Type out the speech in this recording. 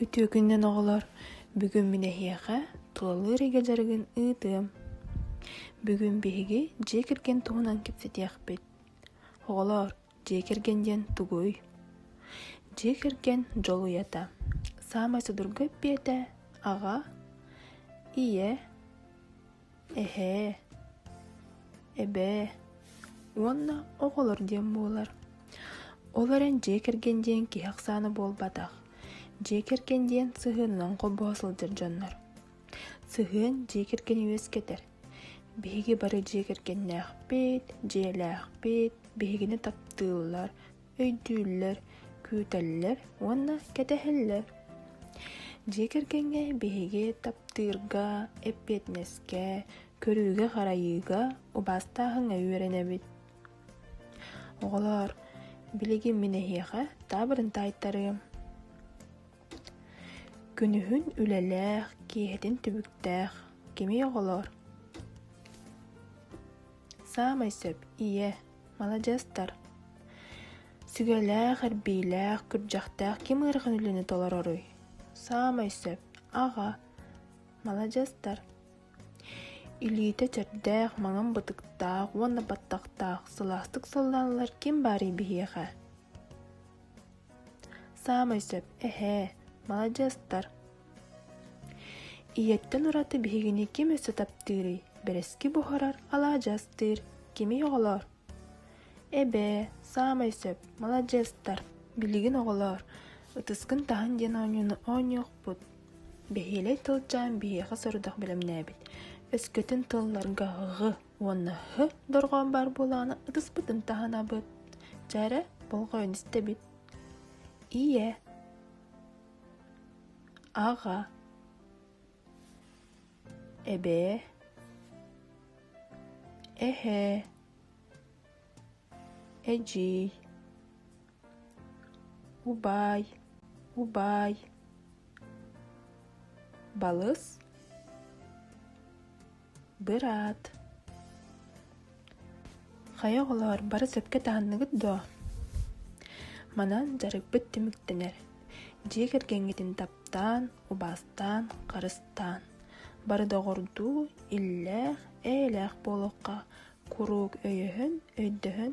Үтүөкүннэн оҕолор, бүгүн мин эһиэхэ тулалыыр эгэ дьарыгын ыытыам. Бүгүн биһиги дьиэ кэргэн туһунан кэпсэтиэхпит. Оҕолор, дьиэ кэргэн диэн тугуй? Дьиэ кэргэн дьолуйата. Саамай судургу эппиэтэ аҕа, ийэ, Эһээ, эбээ уонна оҕолор диэн буолар. Ол эрэн дьиэ кэргэн диэн киһи ахсаана буолбатах. Дьиэ кэргэн диэн сыһыанынан холбоһо сылдьар дьоннор. Сыһыан дьиэ кэргэни үөскэтэр. Биһиги бары дьиэ кэргэннээхпит, дьиэлээхпит, биһигини таптыыллар, өйдүүллэр, күүтэллэр уонна кэтэһэллэр. Дьиэ кэргэҥҥэ биһиги таптыырга, эппиэтинэскэ, көрүүгэ-харайыыга убаастааһыҥҥа үөрэнэбит. Оҕолоор, билигин мин эһиэхэ таабырын таайтарыам. Күнүһүн үлэлээх, киэһэтин түбүктээх, кимий оҕолоор? Саамай сөп, ийэ, маладьыастар сүгэлээх эрбиилээх күрдьэхтээх ким ыарахан үлэни толороруй саамай сөп аҕа маладьыастар илиитэ чэрдээх маҥан бытыктаах уонна баттахтаах сылаастык сылланаллар ким баарый биһиэхэ Саамай сөп, эһээ, маладьыастар. Ийэттэн ураты биһигини ким өссө таптыырый? Бэрэски буһарар, алаадьастыыр, кими оҕолоор? Эбээ, саамай сөп, маладьыастар, билигин оҕолоор, ытыскын таһын диэн оонньууну оонньуохпут. Бэһиэлэй тылдьаан биһиэхэ сорудах бэлэмнээбит. Өскөтүн тылларга һ уонна хөт дорҕоон баар буолаана ытыспытын таһынабыт чээрэ болҕойон истэбит ийэ аҕа эбээ эһээ эдьиий убаай убаай балыс быраат хайа оҕолоор бары сөпкө таһынныгыт дуо манан дьарыкпыт түмүктэнэр дьиэ кэргэҥҥитин таптаан убаастаан харыстаан бары доҕордуу иллээх эйэлээх буолуохха куруук өйөһөн өйдөһөн